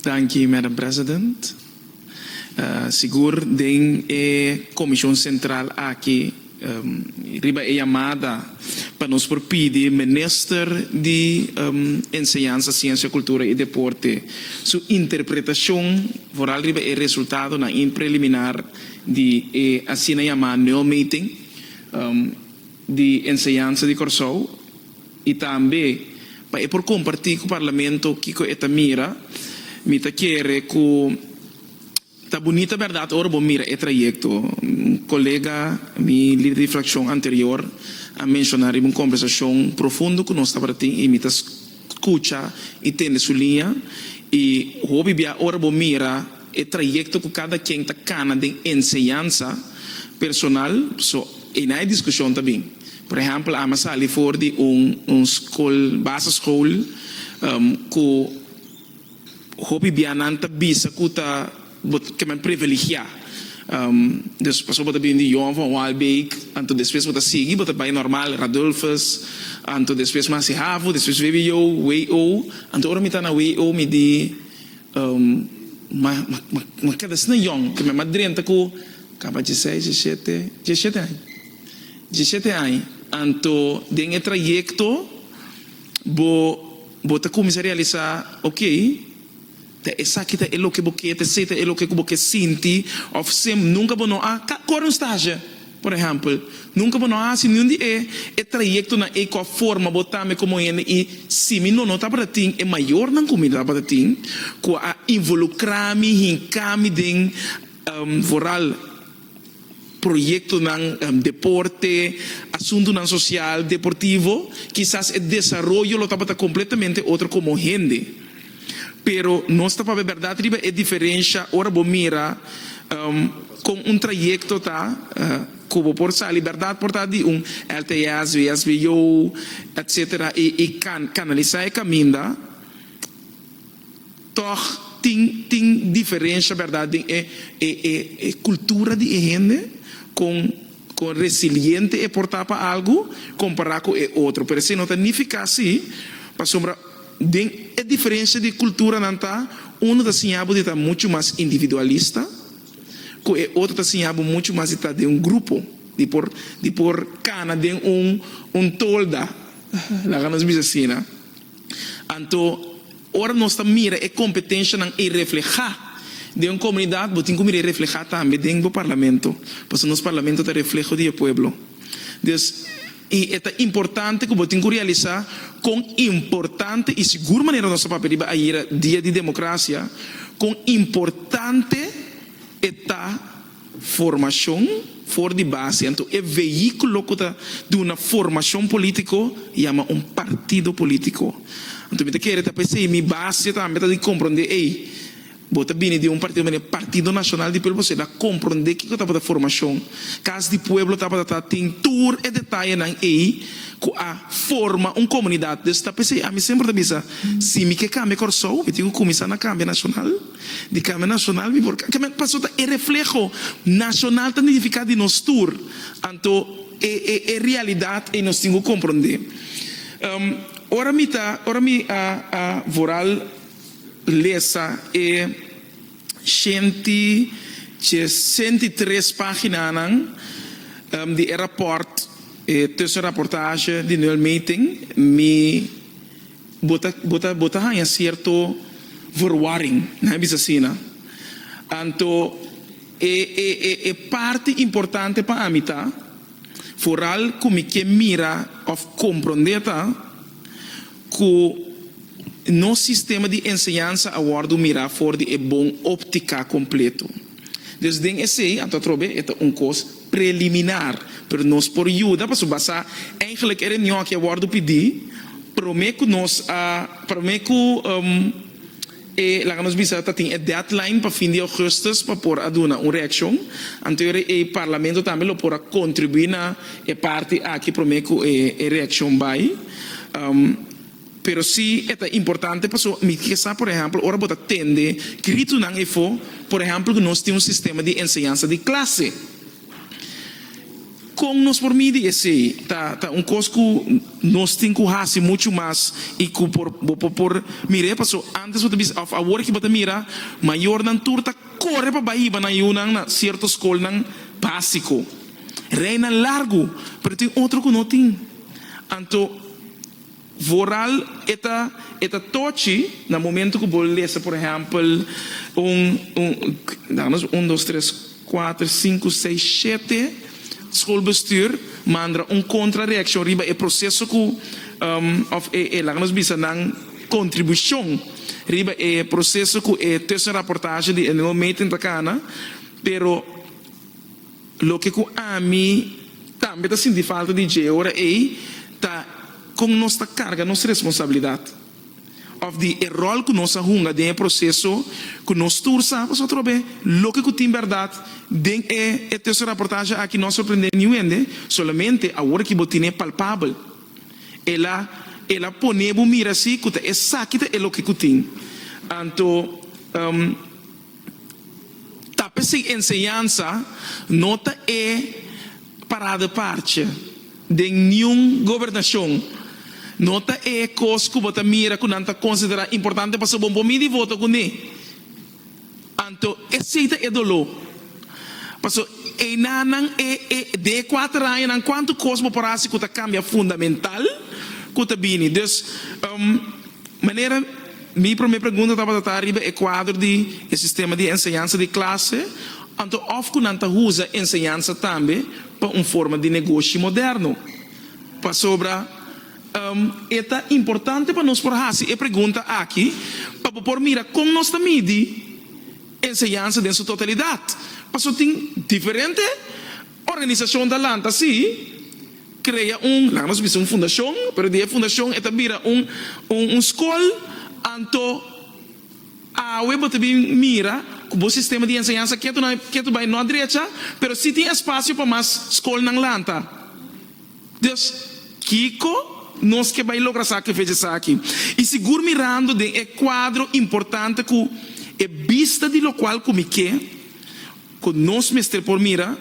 Danki Madam President. Sigur den e Comishon Central aki riba e yamada pa nos por pidi Minister di Enseñansa, Ciencia, Cultura y Deporte su interpretacion vooral riba e resultadonan in preliminar di e asina yama nul meting di Enseñansa di Corsou. I tambe pa e por kompartí ku Parlamento kiko e ta mira. Mi ta kere ku ta bunita bèrdat ora bo mira e trayekto. Un kolega mi, lider di frakshon anterior, a menshoná riba un kombersashon profundo ku nos tabata tin i mi ta skucha i tende su liña. I hopi bia ora bo mira e trayekto ku kada ken ta kana den enseñansa personal, so ei na e diskushon ta bin. Por ehempel, ami a sali for di un un skol, basisschool, ku hopi bianan ta bisa ku ta bo ta kema priviligiá. Dus pasobra bo ta bini di Johan van Waalbeek, anto despues bo ta sigui, bo ta bai normal Radulfus, anto despues Masi Havo, despues VWO, WO. Anto ora mi ta na WO mi di ma ma kada asina Johan, kema mi a drenta ku kaba diesseis, diesshete, diesshete aña. Diecisiete aña. Anto den e trayecto bo bo ta cuminsa realisa, okay, ta esaki ta e loke bo ke, ta esaki ta e loke cu bo ke sinti, of sem nunca bo no a cor un stage, por ehempel, nunca bo no a haci niun di e e trayectonan ey cu a forma bo tambe como hende y si mi no no tabata tin e mayornan cu mi tabata tin cu a involucra mi, hinca mi den vooral. proyektonan deporte, asuntunan sosial, deportivo, kisas e desaroyo lo tabata kompletamente otro komo hende. Pero nos ta papia bèrdat riba e diferensha ora bo mira kon un trayekto ta ku bo por sali bèrdat por ta di un LTS, VSVO, etsetera i kanalisá e kaminda. Tòg tin tin diferensha, bèrdat, den e e e e kultura di e hende, kon kon resiliente e por ta pa algu kompará ku e otro. Pero esei no ta nifiká así, pasobra den e diferensha di kultura nan ta, unu ta siñá bo di ta muchu mas individualista, ku e otro ta siñá bo muchu mas di ta den un grupo, di por di por kana den un un tolda, laga nos bisa asina. Anto, ora nos ta mira e kompetenshanan ei reflehá den un komunidat, bo tin ku mira ei reflehá tambe den bo parlamento, pasobra nos parlamento ta refleho di e pueblo. Dus, i e ta importante ku bo tin ku realisá kon importante, i sigur manera nos a papia riba ayera, Dia di Demokrasia, kon importante e ta Formacion for di base, anto e vehiculo cu ta duna formacion politico yama un partido politico. Anto mi ta kere ta p'esey mi base tambe ta di compronde ey, bo ta bini di un partido mane Partido Nacional di Pueblo Bosey, na compronde kico tabata formacion, Cas di Pueblo tabata ta tin tur e detayenan ey cu a forma un comunidad. Des ta p'esey ami semper ta bisa si mi ke cambia Corsou mi tin cu cuminsa na cambia Nacional. di Kamer Nashonal mi por kambia paso ta e refleho nashonal ta nidifiká di nos tur anto e e e realidat ei nos tin ku komprondé ora mi ta ora mi a a vooral lesa e shenti shesenta i tres paginanan di e rapòrt e tushenrapportage di Noël Meting mi Bo ta haña cierto verwarring, nan a bisa asina. Anto e parti importante pa ami ta, foral cu mi ke mira of comprende ta, cu nos sistema di enseñansa a wordo mira for di e bon optica completo. Dus den esei anto atrobe e ta un kos preliminar, pero nos por yuda pasobra basá eindelijk e reunion aki a wòrdu pidi promé ku nos a promé ku e laga nos bisa ta tin e deadline pa fin di augustus pa por a duna un reakshon anto e ora ei parlamento tambe lo por a kontribuí na e parti aki promé ku e reakshon bai. Pero si e ta importante paso mi ke sa por ehempel ora bo ta tende gritonan efo por ehempel ku nos tin un sistema di enseñansa di klase kon nos por midi esei ta ta un kos ku nos tin ku hasi muchu mas i ku por bo por por mire paso antes bo ta bisa òf awor ke bo ta mira mayornan tur ta kore pa bai hiba nan yunan na sierto skolnan básiko reinan largu pero tin otro ku no tin anto. Vooral e ta e ta tochi na momento ku bo lesa por ehèmpel un un damos un dos tres kuater sinku seis shete skolbestuur mandra un kontra reakshon riba e proseso ku òf e e laga nos bisa nan kontribushon riba e proseso ku e tushenrapportage di e nuevo meting ta kana pero Loke ku ami tambe ta sinti falta di dje ora ei ta kon nos ta karga nos responsabilidat òf di e ròl ku nos a hunga den e proseso ku nos tur sa pasotrobe loke ku tin bèrdat. Den e e tesoraportashe aki no a sorprendé niun hende, solamente awor ki bo tine palpabel el a el a pone bo mira si ku ta esaki ta e loke ku tin. Anto. Tape sin enseñansa no ta e parada parche den niun gobernashon. No ta e kos ku bo ta mira ku nan ta konsiderá importante pasobra bo mindi di voto kuné. Anto esei ta e doló. Pasobra einanan e e de e kuater añanan kuantu kos bo por hasi ku ta kambia fundamental ku ta bini. Dus, Manera, Mi promé pregunta tabata ta riba e kuadro di e sistema di enseñansa di klase anto òf ku nan ta usa enseñansa tambe pa un forma di negoshi moderno. Pasobra e ta importante pa nos por hasi e pregunta aki pa bo por mira kon nos ta midi enseñansa den su totalidat. Pasobra tin diferente organisashon ta lanta si. Krea un, laga nos bisa un fundashon, pero di e fundashon e ta bira un un skol, anto awe bo ta bin mira ku bo sistema di enseñansa ketu na ketu bai no a drecha, pero si tin espasio pa mas skolnan lanta. Dios, kiko nos ke bai logra sa através di esaki? I sigur mirando den e kuadro importante ku e bista di lokual ku mi ke ku nos mester por mira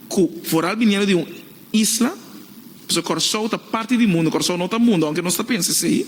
ku foral biniendo di un Isla, pasobra Kòrsou ta parti di mundu, Kòrsou no ta mundu aunke nos ta pensa esei.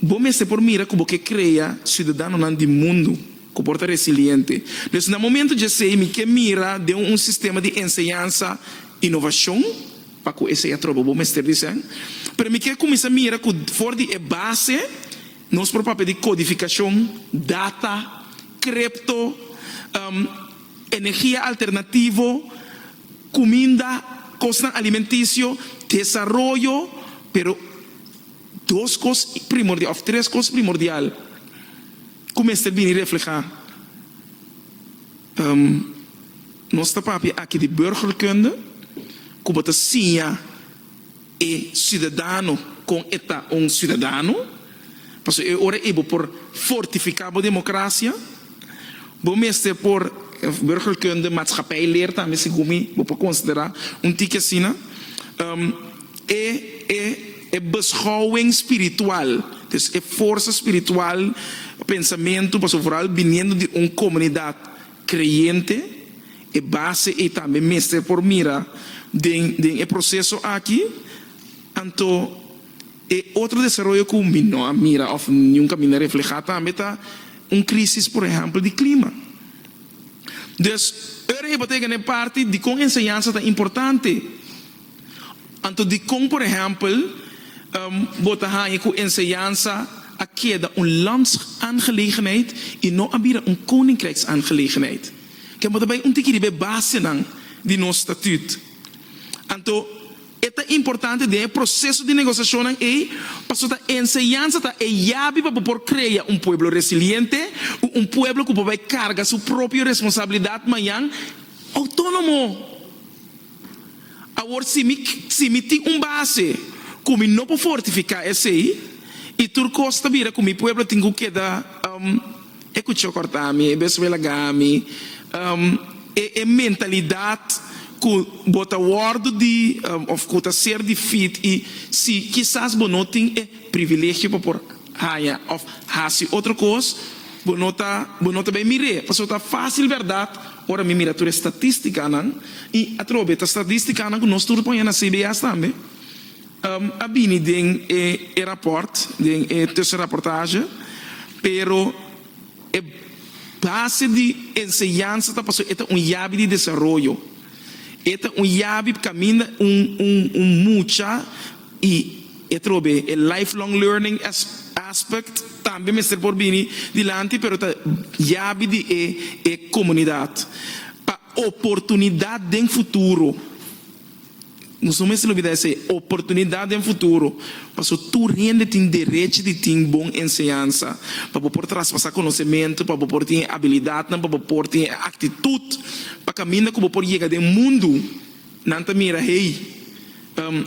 Bo mester por mira ku bo ke krea siudadanonan di mundu ku por ta resiliente. Pues na momentu dj'esei mi ke mira den un sistema di enseñansa inovashon pa ku esei atrobe bo mester disen. Pero mi ke kuminsá mira ku for di e base nos por papia di kodifikashon, data, krepto. energia alternativo, cuminda, cosnan alimenticio, desaroyo, pero dos cos primordial of tres cos primordial cu mester bini refleha, nos ta papia aki di burgerkunde, cu bo ta siña. E ciudadano con e ta un ciudadano, pasobra e ora ey bo por fortifica bo democracia, bo mester por burgerkunde maatschappij leer tambe segun mi bo por considera un tiki asina, e e e beschouwing spiritual, dus e forsa spiritual pensamento pasobra vooral biniendo di un comunidad Creyente, e base ei tambe mester por mira den den e proceso aki, anto e otro desaroyo cu mi no a mira of niun caminda refleha tambe ta un crisis por ehempel di clima. Dus ora hipoteca na e parti dicon enseñansa ta importante Anto dikon, por ehèmpel, bo ta haña ku enseñansa a keda un landsaangelegenheid i no a bira un koninkrijksaangelegenheid? Ke bo ta bai un tiki riba e basenan di nos statüt. Anto e ta importante den e proseso di negosiashonnan ei pasobra enseñansa ta e yabi pa bo por krea un pueblo resiliente ku un pueblo ku por bai karga su propio responsabilidat mañan outónomo. Awor si mi si mi tin un base ku mi no por fortifiká esei i tur kos ta bira ku mi pueblo tin ku keda e kuchó kòrtá mi, e besué lagá mi, e e mentalidat ku bo ta wòrdu di òf ku ta ser di fit i si kisas bo no tin e privilegio pa por haña òf hasi otro kos bo no ta bo no ta bai mir'é pasobra ta fásil bèrdat. Ora mi mira tur e statisticanan, y atrobe ta statisticanan cu nos tur ta poña na CBS tambe, a bini den e rapport, den e tussenrapportage, pero e base di enseñansa ta pasobra e ta un yabi di desaroyo, e ta un yabi caminda un mucha. I e otro be, e lifelong learning aspect tambe mester por bini dilanti, pero ta yabi di e e comunidad. Pa oportunidad den futuro, nos no mester olbida esei, oportunidad den futuro, paso tur hende tin derechi di tin bon enseñansa, pa bo por traspasa conocemento, pa bo por tin e habilidadnan, pa bo por tin e actitud pa caminda cu bo por yega den mundo. Nan ta mira, Hey,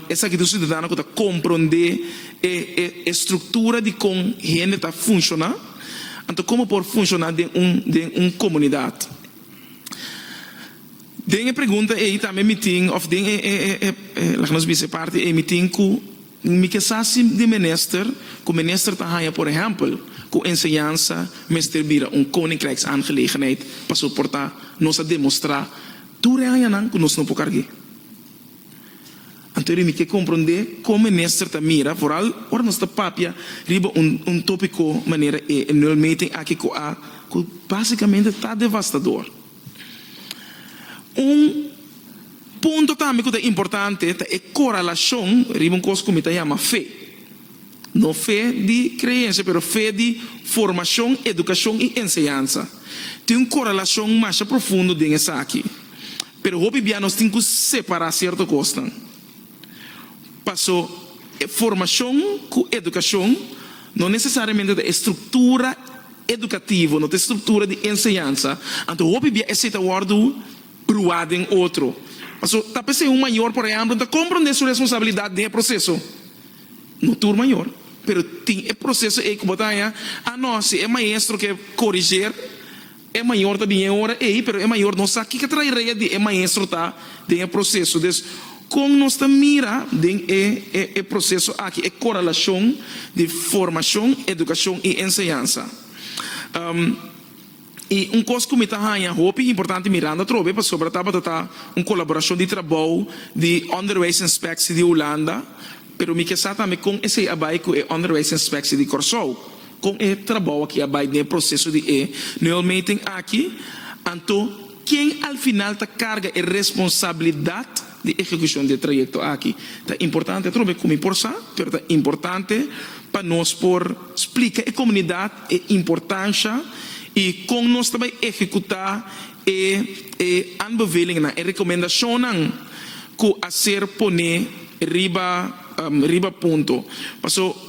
esaki ta un siudadano ku ta komprondé e struktura di kon hende ta funshoná. Anto kon bo por funshoná den un komunidat? Den e pregunta ei tambe mi tin, òf den e, laga nos bisa e parti ei, mi tin ku, Mi ke sa si di minister ku minister ta haña por ehèmpel ku enseñansa mester bira un koninkrijksaangelegenheid pa soportá nos a demostrá tur e hañanan ku nos no por karg'é. Anto ri mi ke komprondé kon minister ta mira vooral ora nos ta papia riba un tópiko manera e nulmeting aki ku a ku básikamente ta devastador. Un punto tambe ku ta importante ta e koralashon riba un kos ku mi ta yama fe. No fe di kreensia pero fe di formashon, edukashon i enseñansa. Tin un koralashon masha profundo den esaki. Pero hopi bia nos tin ku separá sierto kosnan. Paso, e formashon ku edukashon no nesesariamente ta e struktura edukativo, no ta e struktura di enseñansa, anto hopi bia esei ta wòrdu bruá den otro. Paso, ta p'esei un mayor, por ehèmpel, ta komprondé su responsabilidat den e proseso. No tur mayor, pero tin e proseso ei ku bo ta haña, a no, si e maestro ke koriger, E mayor ta bini e ora ei, pero e mayor no sa kiko traerea di e maestro ta den e proceso. Des, con nos ta mira den e e proceso aki e correlacion di formacion, educacion y enseñansa? Um, y un cos cu mi ta hanja hopi importante mirando atrobe pasobra tabata ta un colaboracion di trabou di Onderwijsinspectie di Hulanda, pero mi ke sa tambe con esey a bay cu e Onderwijsinspectie di Corsou. Kon e trabou aki a bai den e proseso di e neulmeting aki, anto ken al final ta karga e responsabilidat di ehekushon di e trayekto aki? Ta importante atrobe e ku mi por sa, pero ta importante pa nos por splika e komunidat e importansha i kon nos ta bai ehekutá e e aanbevelingnan, e rekomendashonnan ku a ser poné riba riba punto. Paso.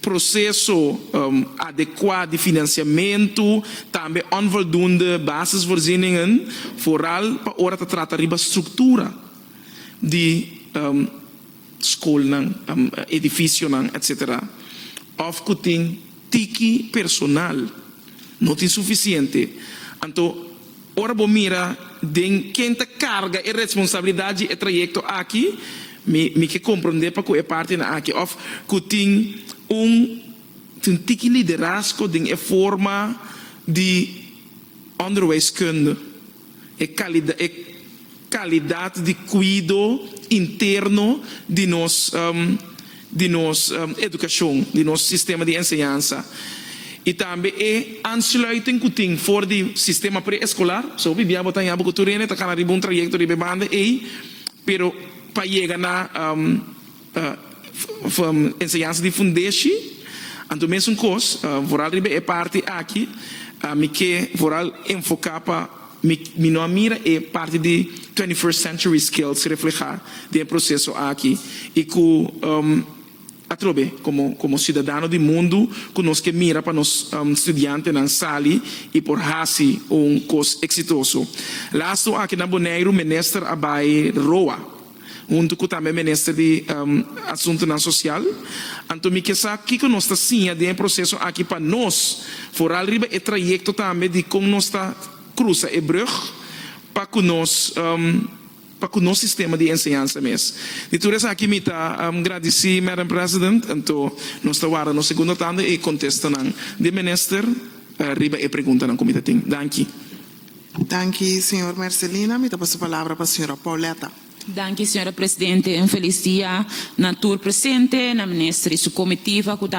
proseso adekua di finansiamentu, tambe onvoldoende basisvoorzieningen, vooral pa ora ta trata riba struktura di skolnan, edifisionan etc. Òf ku tin tiki personal, no tin sufisiente, anto. Ora bo mira den ken ta karga e responsabilidat dje e trayekto aki, mi mi ke komprondé pa ku e partenan aki òf ku tin un tin un tiki liderasko den e forma di ònderwijskunde, e kalida e. Kalidat di kuido interno di nos di nos edukashon, di nos sistema di enseñansa i tambe e aansluiting ku tin for di sistema preeskolar. So wi bia bo ta yambo ku tur hende ta kala riba un trayekto riba e banda ei, pero pa yega na. Enseñansa di fundeshi, anto mesun kos, vooral riba e parti aki mi ke vooral enfoká pa mi no a mira e parti di twenty first century skills reflehá den e proseso aki i ku atrobe komo komo siudadano di mundu ku nos ke mira pa nos studiantenan sali i por hasi un kos eksitoso. Lastu aki na Boneiru Minister a bai roa. huntu ku tambe Minister di Asuntunan Sosial, anto mi ke sa kiko nos ta siña den e proseso aki pa nos, foral riba e trayekto tambe di kon nos ta krusa e brug pa ku nos pa ku nos sistema di enseñansa mes. Di tur esaki mi ta gradisí Madam President, anto nos ta wara nos segundo tanda e kontestanan di Minister riba e preguntanan ku mi ta tin. Danki. Danki señor Mercelina. Mi ta pasa palabra pa señora Pauletta. Danki señora Presidente. Un felis dia na tur presente, na Minister i su comitiva cu ta.